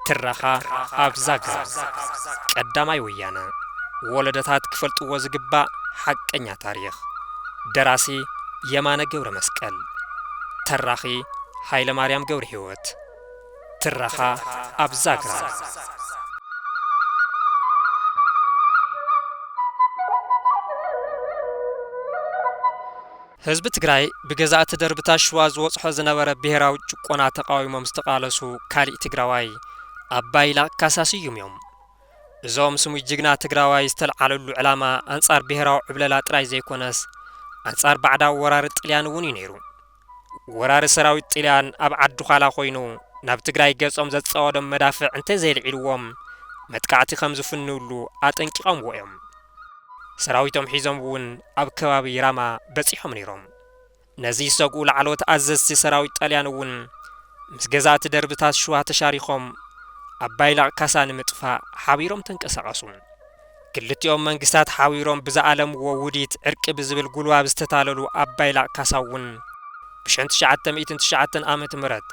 ትረኻ ኣብ ዛግራ ቀዳማይ ወያነ ወለደታት ክፈልጥዎ ዝግባእ ሓቀኛ ታሪኽ ደራሲ የማነ ገብረ መስቀል ተራኺ ሃይለ ማርያም ገብረ ህይወት ትረኻ ኣብ ዛግራ። ህዝቢ ትግራይ ብገዛእቲ ደርብታት ሽዋ ዝወፅሖ ዝነበረ ብሄራዊ ጭቆና ተቓዊሞም ዝተቓለሱ ካሊእ ትግራዋይ ኣብ ባይላ ካሳ ስዩም እዮም። እዞም ስሙይ ጅግና ትግራዋይ ዝተልዓለሉ ዕላማ ኣንፃር ብሄራዊ ዕብለላ ጥራይ ዘይኮነስ ኣንፃር ባዕዳዊ ወራሪ ጥልያን እውን እዩ ነይሩ። ወራሪ ሰራዊት ጥልያን ኣብ ዓዲዃላ ኮይኑ ናብ ትግራይ ገፆም ዘፃወዶም መዳፍዕ እንተዘየልዒልዎም መጥቃዕቲ ከምዝፍንውሉ ኣጠንቂቐምዎ እዮም። ሰራዊቶም ሒዞም እውን ኣብ ከባቢ ራማ በፂሖም ነይሮም። ነዚ ዝሰግኡ ላዕለዎት ኣዘዝቲ ሰራዊት ጣልያን እውን ምስ ገዛእቲ ደርብታት ሽዋ ተሻሪኾም ኣባይላቕ ካሳ ንምጥፋእ ሓቢሮም ተንቀሳቐሱ። ክልቲኦም መንግስታት ሓቢሮም ብዝኣለምዎ ውዲት ዕርቂ ብዝብል ጉልባብ ዝተታለሉ ኣብ ባይላቕ ካሳ'ውን ብሸን ትሽዓተ ሚእትን ትሽዓተን ዓመት ምረት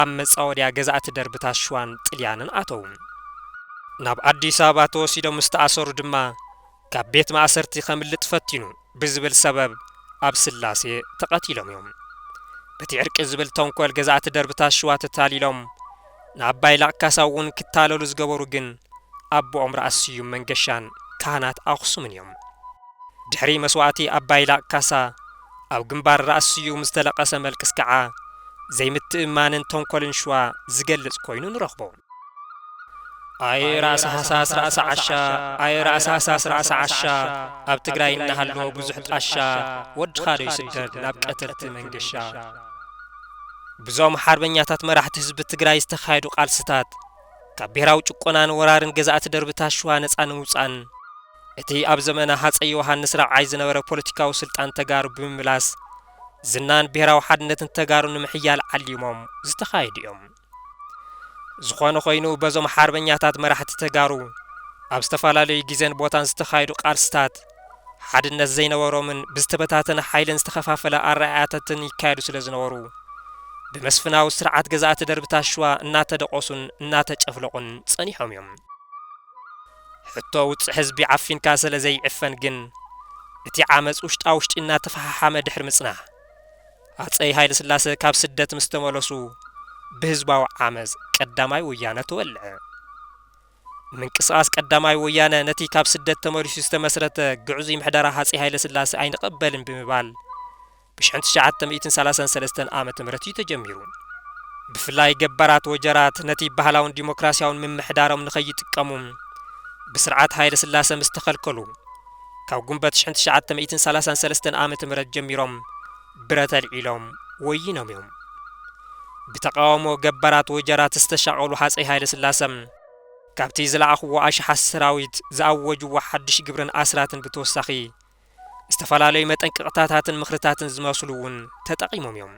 ኣብ መጻወድያ ገዛእቲ ደርብታት ሽዋን ጥልያንን ኣተዉ። ናብ ኣዲስ ኣበባ ተወሲዶም ምስ ተኣሰሩ ድማ ካብ ቤት ማእሰርቲ ከምልጥ ፈቲኑ። ብዝብል ሰበብ ኣብ ስላሴ ተቐቲሎም እዮም። በቲ ዕርቂ ዝብል ተንኮል ገዛእቲ ደርብታት ሽዋ ተታሊሎም፣ ንኣባይ ላቕ ካሳ እውን ክታለሉ ዝገበሩ ግን ኣቦኦም ራእሲ ስዩም መንገሻን ካህናት ኣኽሱምን እዮም። ድሕሪ መስዋእቲ ኣባይ ላቕ ካሳ ኣብ ግንባር ራእሲ ስዩም ዝተለቐሰ መልቅስ ከዓ ዘይምትእምማንን ተንኮልን ሽዋ ዝገልፅ ኮይኑ ንረኽቦ። ኣየ ራእሲ ሃሳስ ራእሲ ዓሻ ኣየ ራእሲ ሃሳስ ራእሲ ዓሻ ኣብ ትግራይ እናሃለወ ብዙሕ ጣሻ ወድኻ ዶ ይስደድ ናብ ቀተልቲ መንገሻ ብዞም ሓርበኛታት መራሕቲ ህዝቢ ትግራይ ዝተኻየዱ ቃልስታት ካብ ብሔራዊ ጭቆናን ወራርን ገዛእቲ ደርብታት ሽዋ ነፃ ንምውፃእን እቲ ኣብ ዘመነ ሃፀይ ዮሃንስ ራብዓይ ዝነበረ ፖለቲካዊ ስልጣን ተጋሩ ብምምላስ ዝናን ብሔራዊ ሓድነትን ተጋሩ ንምሕያል ዓሊሞም ዝተኻየዱ እዮም። ዝኾነ ኾይኑ በዞም ሓርበኛታት መራሕቲ ተጋሩ ኣብ ዝተፈላለዩ ግዜን ቦታን ዝተኻየዱ ቃልስታት ሓድነት ዘይነበሮምን ብዝተበታተነ ሓይልን ዝተኸፋፈለ ኣረኣእያታትን ይካየዱ ስለ ዝነበሩ ብመስፍናዊ ስርዓት ገዛእቲ ደርብታት ሽዋ እናተደቖሱን እናተጨፍለቑን ጸኒሖም እዮም። ሕቶ ውጽዕ ህዝቢ ዓፊንካ ስለ ዘይዕፈን ግን እቲ ዓመጽ ውሽጣ ውሽጢ እናተፈሓሓመ ድሕሪ ምጽናሕ፣ ሃፀይ ሃይለስላሰ ካብ ስደት ምስ ተመለሱ ብህዝባዊ ዓመፅ ቀዳማይ ወያነ ተወልዐ። ምንቅስቓስ ቀዳማይ ወያነ ነቲ ካብ ስደት ተመሊሱ ዝተመስረተ ግዕዙይ ምሕደራ ሃፀይ ሃይለስላሰ ኣይንቐበልን ብምባል ብ ሽሕን ትሽዓተ ሚእትን ሰላሳን ሰለስተን ዓመተ ምህረት እዩ ተጀሚሩ። ብፍላይ ገባራት ወጀራት ነቲ ባህላውን ዲሞክራሲያውን ምምሕዳሮም ንከይጥቀሙ ብስርዓት ሃይለስላሰ ምስ ተኸልከሉ፣ ካብ ጉንበት ሽሕን ትሽዓተ ሚእትን ሰላሳን ሰለስተን ዓመተ ምህረት ጀሚሮም ብረት ኣልዒሎም ወይኖም እዮም። ብተቓውሞ ገባራት ወጀራት ዝተሻቐሉ ሃጸይ ሃይለስላሰ፣ ካብቲ ዝለኣኽዎ ኣሽሓት ሰራዊት ዝኣወጅዎ ሓድሽ ግብርን ኣስራትን ብተወሳኺ ዝተፈላለዩ መጠንቀቕታታትን ምኽርታትን ዝመስሉ እውን ተጠቒሞም እዮም።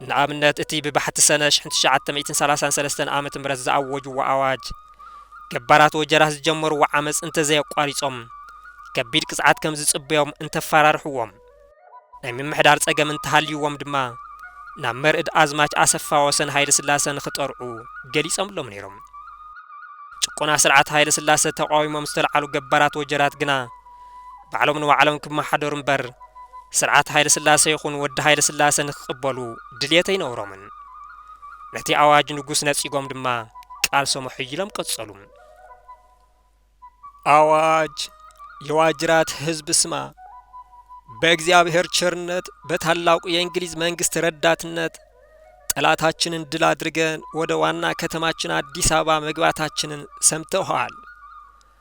ንኣብነት እቲ ብባሕቲ ሰነ ሽሕን ትሽዓተ ሚእትን ሰላሳን ሰለስተን ዓመተ ምህረት ዝኣወጅዎ ኣዋጅ ገባራት ወጀራት ዝጀመርዎ ዓመጽ እንተዘየቋሪጾም ከቢድ ቅጽዓት ከም ዝጽበዮም እንተፋራርሕዎም ናይ ምምሕዳር ጸገም እንተሃልይዎም ድማ ናብ መርእድ ኣዝማች ኣሰፋ ወሰን ሃይለስላሰ ንኽጠርዑ ገሊጸምሎም ነይሮም። ጭቆና ስርዓት ሃይለስላሰ ተቓዊሞም ዝተልዓሉ ገባራት ወጀራት ግና፣ ባዕሎም ንባዕሎም ክመሓደሩ እምበር ስርዓት ሃይለስላሰ ይኹን ወዲ ሃይለስላሰ ንክቕበሉ ድልየት ኣይነበሮምን። ነቲ ኣዋጅ ንጉስ ነጺጎም ድማ ቃልሶም ኣሐይሎም ቀጸሉ። ኣዋጅ የዋጅራት ህዝብ ስማ! በእግዚኣብሔር ቸርነት በታላቁ የእንግሊዝ መንግስት ረዳትነት ጠላታችንን ድል አድርገን ወደ ዋና ከተማችን አዲስ አበባ መግባታችንን ሰምተውሃል።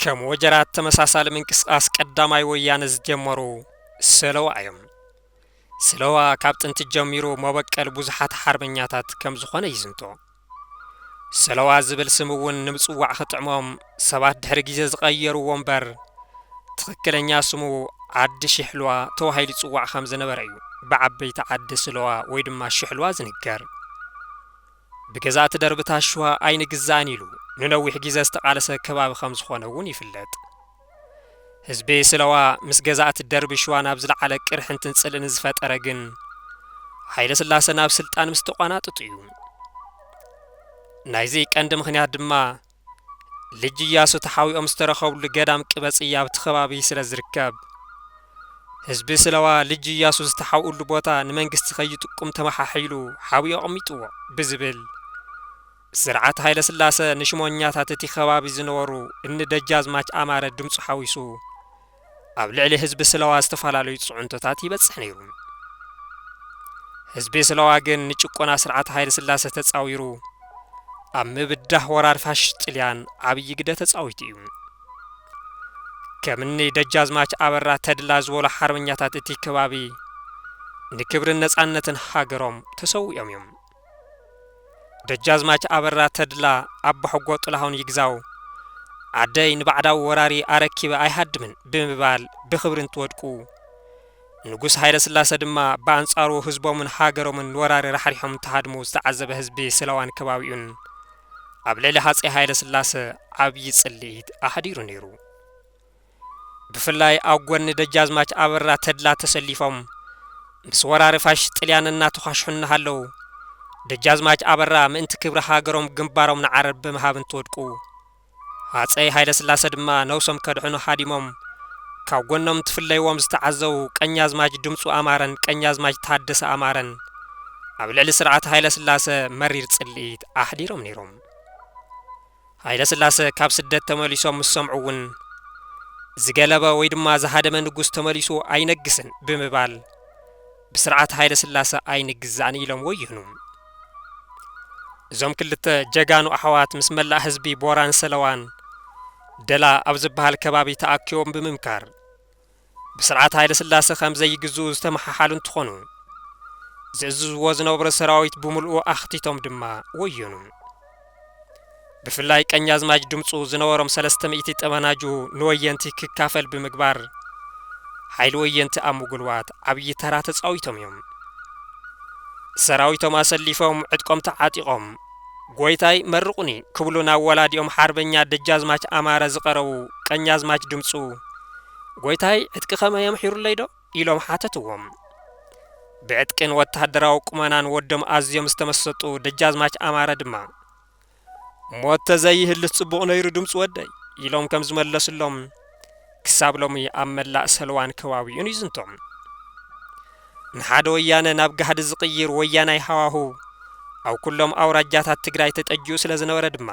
ከም ወጀራት ተመሳሳሊ ምንቅስቓስ ቀዳማይ ወያነ ዝጀመሩ ሰለዋ እዮም። ሰለዋ ካብ ጥንቲ ጀሚሩ መበቀል ብዙሓት ሓርበኛታት ከም ዝኾነ ይዝንቶ። ሰለዋ ዝብል ስም እውን ንምፅዋዕ ክጥዕሞም ሰባት ድሕሪ ግዜ ዝቐየርዎ እምበር ትኽክለኛ ስሙ ዓዲ ሽሕልዋ ተባሂሉ ይፅዋዕ ከም ዝነበረ እዩ ብዓበይቲ ዓዲ ስለዋ ወይ ድማ ሽሕልዋ ዝንገር። ብገዛእቲ ደርብታት ሽዋ ኣይንግዛእን ኢሉ ንነዊሕ ጊዘ ዝተቓለሰ ከባቢ ከምዝኾነ እውን ይፍለጥ። ህዝቢ ስለዋ ምስ ገዛእቲ ደርቢ ሽዋ ናብ ዝለዓለ ቅርሕንትን ፅልእን ዝፈጠረ ግን ሃይለስላሰ ናብ ስልጣን ምስተቋናጠጡ እዩ። ናይዚ ቀንዲ ምኽንያት ድማ፣ ልጅ እያሱ ተሓዊኦም ዝተረኸብሉ ገዳም ቅበጽያ ኣብቲ ከባቢ ስለ ዝርከብ፣ ህዝቢ ስለዋ ልጅ እያሱ ዝተሓውእሉ ቦታ ንመንግስቲ ከይጥቁም ተመሓሒሉ ሓቢኡ ኣቕሚጥዎ ብዝብል፣ ስርዓት ሃይለስላሰ ንሽሞኛታት እቲ ከባቢ ዝነበሩ እኒ ደጃዝማች ኣማረ ድምጹ ሓዊሱ፣ ኣብ ልዕሊ ህዝቢ ስለዋ ዝተፈላለዩ ጽዕንቶታት ይበጽሕ ነይሩ። ህዝቢ ስለዋ ግን ንጭቆና ስርዓት ሃይለስላሰ ተጻዊሩ ኣብ ምብዳህ ወራር ፋሽስት ጥልያን ዓብዪ ግደ ተጻዊቱ እዩ። ከምኒ ደጃዝማች ኣበራ ተድላ ዝበሉ ሓርበኛታት እቲ ከባቢ ንክብርን ነጻነትን ሃገሮም ተሰዊኦም እዮም። ደጃዝማች ኣበራ ተድላ ኣቦሕጎ ጥላሁን ይግዛው ዓደይ ንባዕዳዊ ወራሪ ኣረኪበ ኣይሃድምን ብምባል ብኽብሪ እንትወድቁ፣ ንጉስ ሃይለስላሰ ድማ ብኣንጻሩ ህዝቦምን ሃገሮምን ንወራሪ ራሕሪሖም እንትሃድሙ ዝተዓዘበ ህዝቢ ስለዋን ከባቢኡን ኣብ ልዕሊ ሃጸይ ሃይለስላሰ ዓብዪ ጽልኢት ኣሕዲሩ ነይሩ። ብፍላይ ኣብ ጎኒ ደጃዝማች ኣበራ ተድላ ተሰሊፎም ምስ ወራሪ ፋሽስት ጥልያን እናተዃሽሑ እናሃለዉ ደጃዝማች ኣበራ ምእንቲ ክብሪ ሃገሮም ግንባሮም ንዓረር ብምሃብ እንትወድቁ ሃጸይ ሃይለስላሰ ድማ ነብሶም ከድሕኑ ሃዲሞም ካብ ጎኖም እንትፍለይዎም ዝተዓዘቡ ቀኛዝማች ድምጹ ኣማረን ቀኛዝማች ታደሰ ኣማረን ኣብ ልዕሊ ስርዓት ሃይለስላሰ መሪር ጽልኢት ኣሕዲሮም ነይሮም። ሃይለስላሰ ካብ ስደት ተመሊሶም ምስ ሰምዑ እውን ዝገለበ ወይ ድማ ዝሃደመ ንጉስ ተመሊሱ ኣይነግስን ብምባል ብስርዓት ሃይለስላሰ ኣይንግዛእን ኢሎም ወዩኑ። እዞም ክልተ ጀጋኑ ኣሕዋት ምስ መላእ ህዝቢ ቦራን ሰለዋን ደላ ኣብ ዝበሃል ከባቢ ተኣኪቦም ብምምካር ብስርዓት ሃይለስላሰ ከም ዘይግዝኡ ዝተመሓሓሉ እንትኾኑ፣ ዝእዝዝዎ ዝነበሩ ሰራዊት ብምልኡ ኣኽቲቶም ድማ ወዮኑ። ብፍላይ ቀኛዝማች ድምፁ ዝነበሮም ሰለስተ ሚእቲ ጠበናጁ ንወየንቲ ክካፈል ብምግባር ሓይሊ ወየንቲ ኣብ ምጉልባት ዓብዪ ተራ ተፃዊቶም እዮም። ሰራዊቶም ኣሰሊፎም ዕጥቆም ተዓጢቖም ጎይታይ መርቑኒ ክብሉ ናብ ወላዲኦም ሓርበኛ ደጃዝማች ኣማረ ዝቐረቡ ቀኛዝማች ድምጹ፣ ጎይታይ ዕጥቂ ከመይ የምሒሩለይ ዶ? ኢሎም ሓተትዎም። ብዕጥቂን ወተሃደራዊ ቁመናን ወዶም ኣዝዮም ዝተመሰጡ ደጃዝማች ኣማረ ድማ፣ ሞት ተዘይህልስ ጽቡቕ ነይሩ ድምጹ ወደይ፣ ኢሎም ከም ዝመለስሎም፣ ክሳብ ሎሚ ኣብ መላእ ሰልዋን ከባቢኡን ይዝንቶ። ንሓደ ወያነ ናብ ጋህዲ ዝቕይር ወያናይ ሃዋሁ ኣብ ኩሎም ኣውራጃታት ትግራይ ተጠጂኡ ስለ ዝነበረ ድማ፣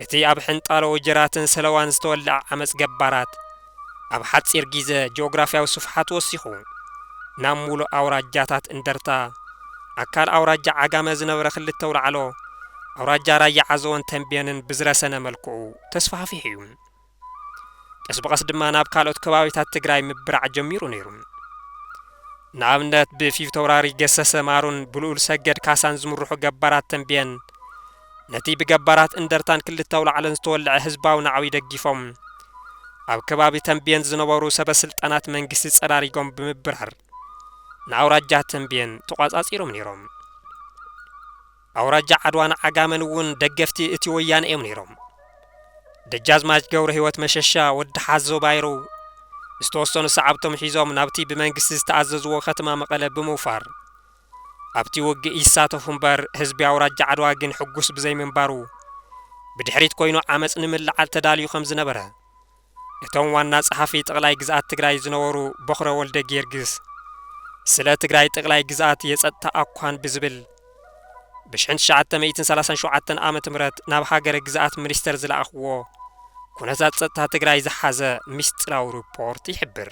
እቲ ኣብ ሕንጣሎ ወጀራትን ሰለዋን ዝተወልዐ ዓመጽ ገባራት ኣብ ሓጺር ጊዘ ጂኦግራፍያዊ ስፍሓቱ ወሲኹ ናብ ሙሉእ ኣውራጃታት እንደርታ፣ ኣካል ኣውራጃ ዓጋመ ዝነበረ ክልተ ኣውላዕሎ፣ ኣውራጃ ራያ ዓዘቦን ተምቤንን ብዝረሰነ መልክዑ ተስፋሕፊሑ እዩ። ቀስ ብቐስ ድማ ናብ ካልኦት ከባቢታት ትግራይ ምብራዕ ጀሚሩ ነይሩ። ንኣብነት ብፊተውራሪ ገሰሰ ማሩን ብልኡል ሰገድ ካሳን ዝምርሑ ገባራት ተምቤን ነቲ ብገባራት እንደርታን ክልተ ኣውላዕሎን ዝተወልዐ ህዝባዊ ናዕቢ ደጊፎም ኣብ ከባቢ ተምቤን ዝነበሩ ሰበስልጣናት መንግስቲ ጸራሪጎም ብምብራር ንኣውራጃ ተምቤን ተቋጻጺሮም ነይሮም። ኣውራጃ ዓድዋን ዓጋመን እውን ደገፍቲ እቲ ወያነ እዮም ነይሮም። ደጃዝማች ገብረህይወት መሸሻ፣ ወዲ ሓዞ ባይሩ፣ ዝተወሰኑ ሰዓብቶም ሒዞም ናብቲ ብመንግስቲ ዝተኣዘዝዎ ከተማ መቐለ ብምውፋር ኣብቲ ውግእ ይሳተፉ እምበር ህዝቢ ኣውራጃ ዓድዋ ግን ሕጉስ ብዘይምንባሩ ብድሕሪት ኮይኑ ዓመፅ ንምልዓል ተዳልዩ ከምዝነበረ እቶም ዋና ፀሓፊ ጠቕላይ ግዝኣት ትግራይ ዝነበሩ ቦኽረ ወልደጊዮርጊስ ስለ ትግራይ ጠቕላይ ግዝኣት የፀጥታ ኣኳን ብዝብል ብ ሽሕን ትሽዓተ ሚእትን ሰላሳን ሸውዓተን ዓመተ ምህረት ናብ ሃገረ ግዝኣት ሚኒስተር ዝለኣኽዎ ኩነታት ፀጥታ ትግራይ ዝሓዘ ሚስጢራዊ ሪፖርት ይሕብር።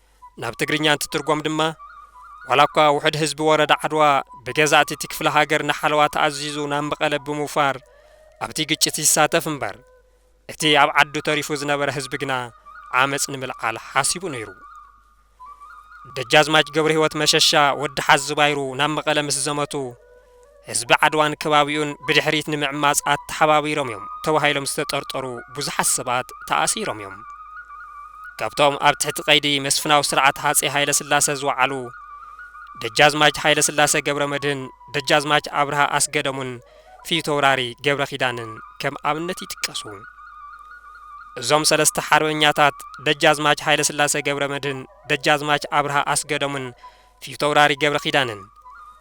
ናብ ትግርኛ እንትትርጎም ድማ፣ ዋላኳ ውሕድ ህዝቢ ወረዳ ዓድዋ ብገዛእቲ እቲ ክፍለ ሃገር ንሓለዋ ተኣዚዙ ናብ መቐለ ብምውፋር ኣብቲ ግጭት ይሳተፍ እምበር፣ እቲ ኣብ ዓዱ ተሪፉ ዝነበረ ህዝቢ ግና ዓመጽ ንምልዓል ሓሲቡ ነይሩ። ደጃዝማች ገብረሂወት መሸሻ ወዲ ሓዚ ባይሩ ናብ መቐለ ምስ ዘመቱ፣ ህዝቢ ዓድዋን ከባቢኡን ብድሕሪት ንምዕማጽ ኣተሓባቢሮም እዮም ተባሂሎም ዝተጠርጠሩ ብዙሓት ሰባት ተኣሲሮም እዮም። ካብቶም ኣብ ትሕቲ ቀይዲ መስፍናዊ ስርዓት ሃጼ ሃይለስላሰ ዝወዓሉ ደጃዝማች ሃይለስላሰ ገብረመድህን፣ ደጃዝማች ኣብርሃ ኣስገደሙን ፊተውራሪ ገብረኪዳንን ከም ኣብነት ይጥቀሱ። እዞም ሰለስተ ሓርበኛታት ደጃዝማች ሃይለስላሰ ገብረመድህን፣ ደጃዝማች ኣብርሃ ኣስገደሙን ፊተውራሪ ገብረኪዳንን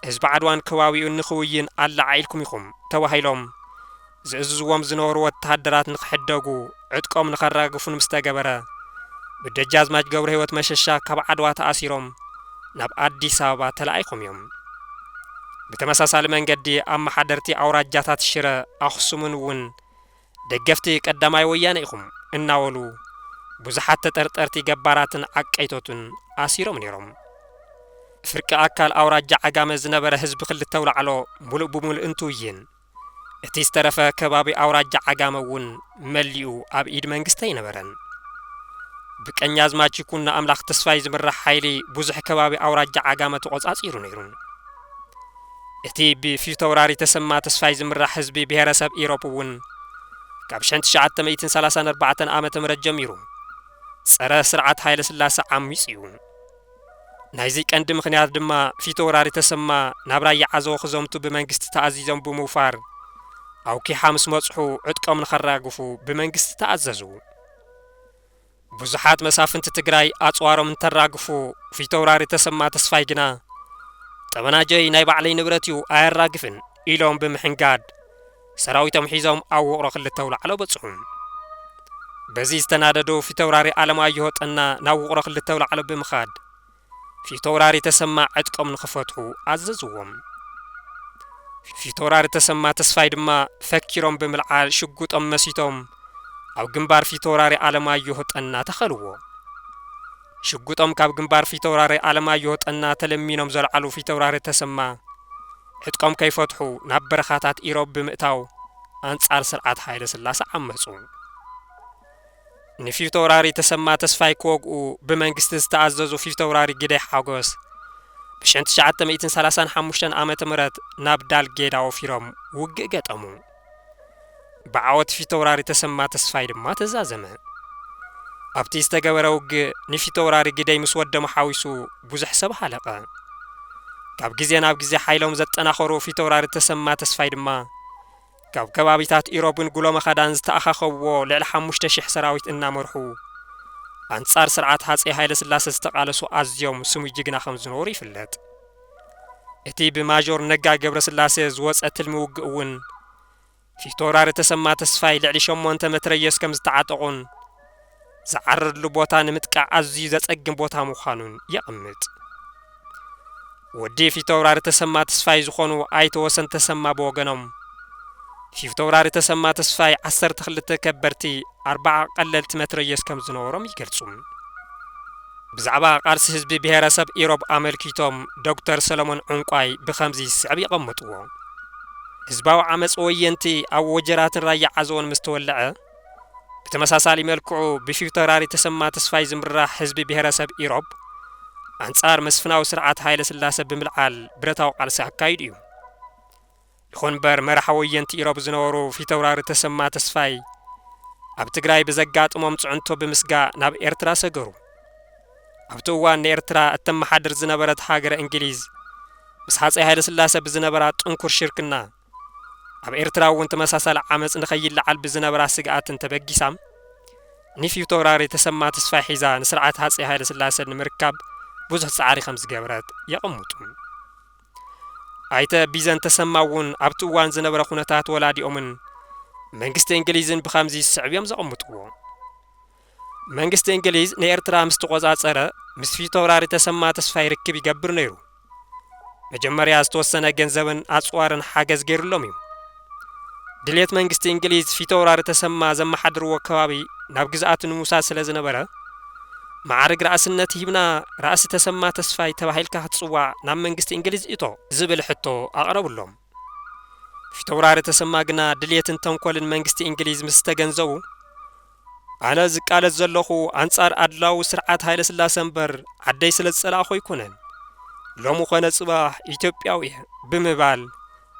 ህዝቢ ዓድዋን ከባቢኡን ንክውይን ኣለዓዒልኩም ኢኹም ተባሂሎም ዝእዝዝዎም ዝነበሩ ወተሃደራት ንክሕደጉ ዕጥቆም ንከራግፉን ምስ ተገበረ ብደጃዝማች ገብረህይወት መሸሻ ካብ ዓድዋ ተኣሲሮም ናብ ኣዲስ ኣበባ ተላኢኹም እዮም። ብተመሳሳሊ መንገዲ ኣመሓደርቲ ኣውራጃታት ሽረ ኣኽሱምን እውን ደገፍቲ ቀዳማይ ወያነ ኢኹም እናበሉ ብዙሓት ተጠርጠርቲ ገባራትን ዓቀይቶትን ኣሲሮም ነይሮም። ፍርቂ ኣካል ኣውራጃ ዓጋመ ዝነበረ ህዝቢ ክልተ ኣውላዕሎ ሙሉእ ብሙሉእ እንትውይን እቲ ዝተረፈ ከባቢ ኣውራጃ ዓጋመ እውን መሊኡ ኣብ ኢድ መንግስቲ ኣይነበረን። ብቀኛዝማች ይኩኖ ኣምላክ ተስፋይ ዝምራሕ ሓይሊ ብዙሕ ከባቢ ኣውራጃ ዓጋመ ተቖፃፂሩ ነይሩ። እቲ ብፊተውራሪ ተሰማ ተስፋይ ዝምራሕ ህዝቢ ብሄረሰብ ኢሮብ እውን ካብ ሽሕን ትሽዓተ ሚእትን ሰላሳን ኣርባዕተን ዓመተ ምህረት ጀሚሩ ጸረ ስርዓት ሃይለ ስላሰ ዓሚጽ እዩ። ናይዚ ቀንዲ ምክንያት ድማ ፊተውራሪ ተሰማ ናብ ራያ ዓዘቦ ክዘምቱ ብመንግስቲ ተኣዚዞም ብምውፋር ኣውኪሓ ምስ መጽሑ ዕጥቆም ንከራግፉ ብመንግስቲ ተኣዘዙ። ብዙሓት መሳፍንቲ ትግራይ ኣጽዋሮም እንተራግፉ ፊተውራሪ ተሰማ ተስፋይ ግና ጠበናጀይ ናይ ባዕለይ ንብረት እዩ ኣየራግፍን ኢሎም ብምሕንጋድ ሰራዊቶም ሒዞም ኣብ ውቕሮ ክልተ ውላዕሎ በጽሑ። በዚ ዝተናደዱ ፊተውራሪ ኣለማየሁ ጠና ናብ ውቕሮ ክልተ ውላዕሎ ብምኻድ ፊተውራሪ ተሰማ ዕጥቆም ንኽፈትሑ ኣዘዝዎም። ፊተውራሪ ተሰማ ተስፋይ ድማ ፈኪሮም ብምልዓል ሽጉጦም መሲቶም ኣብ ግንባር ፊተውራሪ ኣለማዮህ ጠና ተኸልዎ። ሽጉጦም ካብ ግንባር ፊተውራሪ ኣለማዮህ ጠና ተለሚኖም ዘልዓሉ ፊተውራሪ ተሰማ ዕጥቆም ከይፈትሑ ናብ በረኻታት ኢሮብ ብምእታው ኣንጻር ስርዓት ሃይለስላሰ ዓመጹ። ንፊተውራሪ ተሰማ ተስፋይ ክወግኡ ብመንግስቲ ዝተኣዘዙ ፊተውራሪ ግደይ ሓጎስ ብ ሸን ትሽዓተ ሚእትን ሰላሳን ሓሙሽተን ዓመተ ምህረት ናብ ዳል ጌዳ ወፊሮም ውግእ ገጠሙ። ብዓወት ፊተውራሪ ተሰማ ተስፋይ ድማ ተዛዘመ። ኣብቲ ዝተገበረ ውግእ ንፊተውራሪ ግደይ ምስ ወዶም ሓዊሱ ብዙሕ ሰብ ሃለቐ። ካብ ግዜ ናብ ግዜ ሓይሎም ዘጠናኸሩ ፊተውራሪ ተሰማ ተስፋይ ድማ፣ ካብ ከባቢታት ኢሮብን ጉሎመኻዳን ዝተኣኻኸብዎ ልዕሊ ሓሙሽተ ሽሕ ሰራዊት እናመርሑ ኣንጻር ስርዓት ሃጼ ሃይለስላሰ ዝተቓለሱ ኣዝዮም ስሙይ ጅግና ከም ዝነበሩ ይፍለጥ። እቲ ብማዦር ነጋ ገብረስላሰ ዝወጸ ትልሚ ውግእ እውን ፊቶውራሪ ተሰማ ተስፋይ ልዕሊ ሸሞንተ መትረየስ ከም ዝተዓጠቑን፣ ዝዓርርሉ ቦታ ንምጥቃዕ ኣዝዩ ዘጸግም ቦታ ምዃኑን የቕምጥ። ወዲ ፊተውራሪ ተሰማ ተስፋይ ዝኾኑ ኣይተ ወሰን ተሰማ ብወገኖም፣ ፊተውራሪ ተሰማ ተስፋይ ዓሰርተ ክልተ ከበድቲ ኣርባዓ ቀለልቲ መትረየስ ከም ዝነበሮም ይገልጹ። ብዛዕባ ቃልሲ ህዝቢ ብሄረሰብ ኢሮብ ኣመልኪቶም ዶክተር ሰለሞን ዑንቋይ ብኸምዚ ዝስዕብ የቐምጥዎ። ህዝባዊ ዓመጽ ወየንቲ ኣብ ወጀራትን ራያ ዓዘቦን ምስ ተወለዐ፣ ብተመሳሳሊ መልክዑ ብፊውተውራሪ ተሰማ ተስፋይ ዝምራሕ ህዝቢ ብሄረሰብ ኢሮብ ኣንጻር መስፍናዊ ስርዓት ሃይለስላሰ ብምልዓል ብረታዊ ቃልሲ ኣካይዱ እዩ። ይኹን እምበር መራሒ ወየንቲ ኢሮብ ዝነበሩ ፊተውራሪ ተሰማ ተስፋይ ኣብ ትግራይ ብዘጋጥሞም ጽዕንቶ ብምስጋእ ናብ ኤርትራ ሰገሩ። ኣብቲ እዋን ንኤርትራ እተመሓድር ዝነበረት ሃገረ እንግሊዝ ምስ ሃጸይ ሃይለስላሰ ብዝነበራ ጥንኩር ሽርክና ኣብ ኤርትራ እውን ተመሳሳሊ ዓመጽ ንከይለዓል ብዝነበራ ስግኣትን ተበጊሳ ንፊውቶውራሪ ተሰማ ተስፋይ ሒዛ ንስርዓት ሃጸይ ሃይለስላሰ ንምርካብ ብዙሕ ጻዕሪ ከም ዝገበረት የቐምጡ። ኣይተ ቢዘን ተሰማ እውን ኣብቲ እዋን ዝነበረ ኩነታት ወላዲኦምን መንግስቲ እንግሊዝን ብከምዚ ዝስዕብ እዮም ዘቐምጥዎ። መንግስቲ እንግሊዝ ንኤርትራ ምስ ተቖጻጸረ፣ ምስ ፊተውራሪ ተሰማ ተስፋይ ርክብ ይገብር ነይሩ። መጀመርያ ዝተወሰነ ገንዘብን ኣጽዋርን ሓገዝ ገይሩሎም እዩ። ድሌት መንግስቲ እንግሊዝ ፊተውራሪ ተሰማ ዘመሓድርዎ ከባቢ ናብ ግዝኣቱ ንምውሳድ ስለ ዝነበረ፣ መዓርግ ራእስነት ሂብና ራእሲ ተሰማ ተስፋይ ተባሂልካ ክትጽዋዕ ናብ መንግስቲ እንግሊዝ እቶ! ዝብል ሕቶ ኣቕረቡሎም። ፊተውራሪ ተሰማ ግና ድሌትን ተንኮልን መንግስቲ እንግሊዝ ምስ ተገንዘቡ፣ ኣነ ዝቃለስ ዘለኹ ኣንጻር ኣድላዊ ስርዓት ሃይለስላሰ እምበር ዓደይ ስለ ዝጸላእኹ ኣይኮነን። ሎሚ ኮነ ጽባሕ ኢትዮጵያዊ እየ ብምባል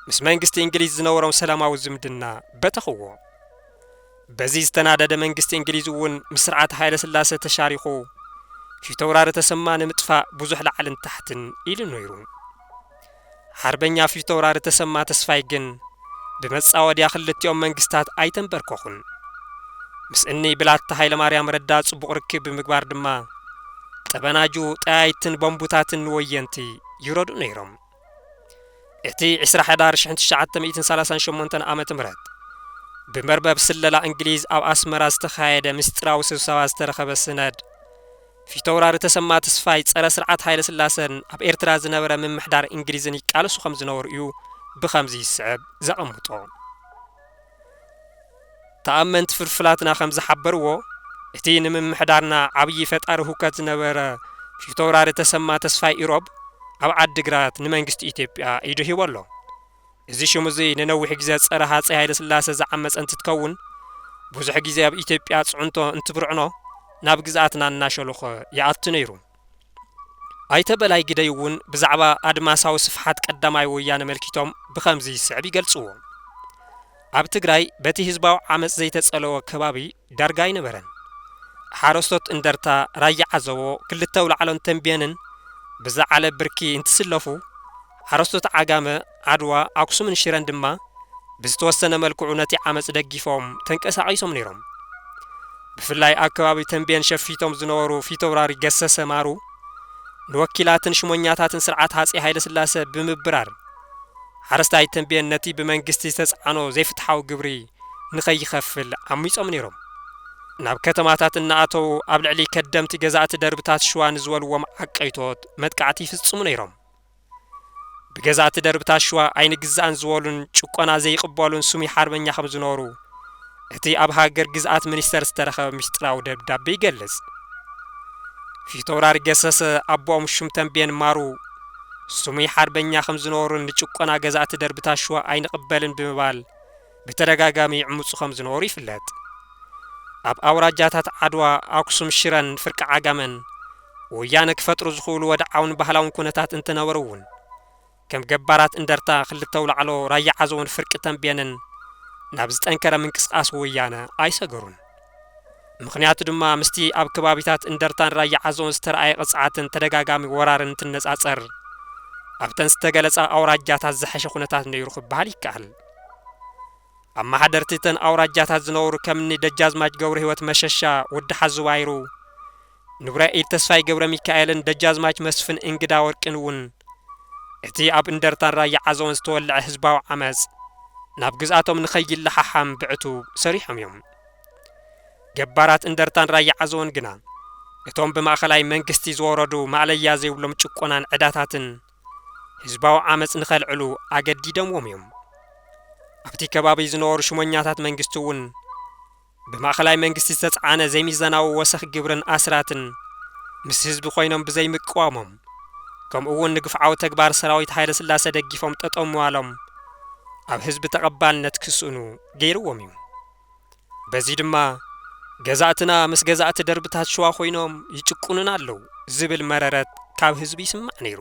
ምስ መንግስቲ እንግሊዝ ዝነበሮም ሰላማዊ ዝምድና በተኽዎ። በዚ ዝተናደደ መንግስቲ እንግሊዝ እውን ምስ ስርዓት ሃይለስላሰ ተሻሪኹ ፊተውራሪ ተሰማ ንምጥፋእ ብዙሕ ላዕልን ታሕትን ኢሉ ነይሩ። ሓርበኛ ፊተውራሪ ተሰማ ተስፋይ ግን ብመጻወድያ ክልቲኦም መንግስታት ኣይተንበርከኹን። ምስ እኒ ብላታ ሃይለማርያም ረዳ ጽቡቕ ርክብ ብምግባር ድማ ጠበናጁ፣ ጠያይትን ቦምቡታትን ንወየንቲ ይረድኡ ነይሮም። እቲ ዕስራ ሕዳር ሽሕን ትሽዓተ ሚእትን ሰላሳን ሸሞንተን ዓመተ ምህረት ብመርበብ ስለላ እንግሊዝ ኣብ ኣስመራ ዝተኻየደ ምስጢራዊ ስብሰባ ዝተረኸበ ስነድ ፊተውራሪ ተሰማ ትስፋይ ጸረ ስርዓት ሃይለስላሰን ኣብ ኤርትራ ዝነበረ ምምሕዳር እንግሊዝን ይቃለሱ ከም ዝነበሩ እዩ ብኸምዚ ዝስዕብ ዘቐምጦ። ተኣመንቲ ፍልፍላትና ከም ዝሓበርዎ፣ እቲ ንምምሕዳርና ዓብዪ ፈጣሪ ሁከት ዝነበረ ፊተውራሪ ተሰማ ተስፋይ ኢሮብ ኣብ ዓዲግራት ንመንግስቲ ኢትዮጵያ ኢዱ ሂቡ ኣሎ። እዚ ሽም እዚ ንነዊሕ ግዜ ጸረ ሃጸይ ሃይለስላሰ ዝዓመጸ እንትትከውን ብዙሕ ግዜ ኣብ ኢትዮጵያ ጽዕንቶ እንትብርዕኖ ናብ ግዝኣትና እናሸሎኸ ይኣቱ ነይሩ። ኣይተ በላይ ግደይ እውን ብዛዕባ ኣድማሳዊ ስፍሓት ቀዳማይ ወያነ መልኪቶም ብኸምዚ ዝስዕብ ይገልጽዎ። ኣብ ትግራይ በቲ ህዝባዊ ዓመጽ ዘይተጸለወ ከባቢ ዳርጋ ኣይነበረን። ሓረስቶት እንደርታ፣ ራያ ዓዘቦ፣ ክልተ ኣውላዕሎን ተምቤንን ብዝዓለ ብርኪ እንትስለፉ፣ ሓረስቶት ዓጋመ፣ ዓድዋ፣ ኣክሱምን ሽረን ድማ ብዝተወሰነ መልክዑ ነቲ ዓመጽ ደጊፎም ተንቀሳቒሶም ነይሮም። ብፍላይ ኣብ ከባቢ ተምቤን ሸፊቶም ዝነበሩ ፊተውራሪ ገሰሰ ማሩ ንወኪላትን ሽሞኛታትን ስርዓት ሃጼ ሃይለስላሰ ብምብራር፣ ሓረስታይ ተምቤን ነቲ ብመንግስቲ ዝተጽዓኖ ዘይፍትሓዊ ግብሪ ንኸይኸፍል ዓሚጾም ነይሮም። ናብ ከተማታት እናኣተዉ ኣብ ልዕሊ ከደምቲ ገዛእቲ ደርብታት ሽዋ ንዝበልዎም ዓቀይቶት መጥቃዕቲ ይፍጽሙ ነይሮም። ብገዛእቲ ደርብታት ሽዋ ኣይንግዛእን ዝበሉን ጭቆና ዘይቕበሉን ስሙይ ሓርበኛ ከም ዝነበሩ፣ እቲ ኣብ ሃገር ግዝኣት ሚኒስተር ዝተረኸበ ምስጢራዊ ደብዳቤ ይገልጽ። ፊተውራሪ ገሰሰ ኣቦኦም ሹም ተምቤን ማሩ ስሙይ ሓርበኛ ከም ዝነበሩን ንጭቆና ገዛእቲ ደርብታት ሽዋ ኣይንቕበልን ብምባል ብተደጋጋሚ ይዕምጹ ከም ዝነበሩ ይፍለጥ። ኣብ ኣውራጃታት ዓድዋ፣ ኣክሱም፣ ሽረን ፍርቂ ዓጋመን ወያነ ክፈጥሩ ዝኽእሉ ወድዓውን ባህላውን ኩነታት እንተነበሩ እውን፣ ከም ገባራት እንደርታ ክልተ ኣውላዕሎ ራያ ዓዘቦን ፍርቂ ተምቤንን ናብ ዝጠንከረ ምንቅስቓስ ወያነ ኣይሰገሩን። ምኽንያቱ ድማ ምስቲ ኣብ ከባቢታት እንደርታን ራያ ዓዘቦን ዝተርኣየ ቅፅዓትን ተደጋጋሚ ወራርን እንትነፃፀር ኣብተን ዝተገለፃ ኣውራጃታት ዝሐሸ ኩነታት ነይሩ ክበሃል ይከኣል። ኣመሓደርቲ እተን ኣውራጃታት ዝነበሩ ከምኒ ደጃዝማች ገብረህይወት መሸሻ፣ ወዲ ሓዙባይሩ፣ ንጉራይ ኢድ ተስፋይ ገብረሚካኤልን ደጃዝማች መስፍን እንግዳወርቂን እውን እቲ ኣብ እንደርታን ራያ ዓዘቦን ዝተወልዐ ህዝባዊ ዓመጽ ናብ ግዝኣቶም ንኸይለሓሓም ብዕቱብ ሰሪሖም እዮም። ገባራት እንደርታን ራያ ዓዘቦን ግና እቶም ብማእኸላይ መንግስቲ ዝወረዱ ማእለያ ዘይብሎም ጭቆናን ዕዳታትን ህዝባዊ ዓመጽ ንኸልዕሉ ኣገዲደምዎም እዮም። ኣብቲ ከባቢ ዝነበሩ ሽሞኛታት መንግስቲ እውን ብማእኸላይ መንግስቲ ዝተፅዓነ ዘይሚዛናዊ ወሰኽ ግብርን ኣስራትን ምስ ህዝቢ ኮይኖም ብዘይምቅዋሞም ከምኡ እውን ንግፍዓዊ ተግባር ሰራዊት ሃይለስላሰ ደጊፎም ጠጠው ምባሎም ኣብ ህዝቢ ተቐባልነት ክስእኑ ገይርዎም እዩ። በዚ ድማ ገዛእትና ምስ ገዛእቲ ደርብታት ሽዋ ኮይኖም ይጭቁኑና ኣለው ዝብል መረረት ካብ ህዝቢ ይስማዕ ነይሩ።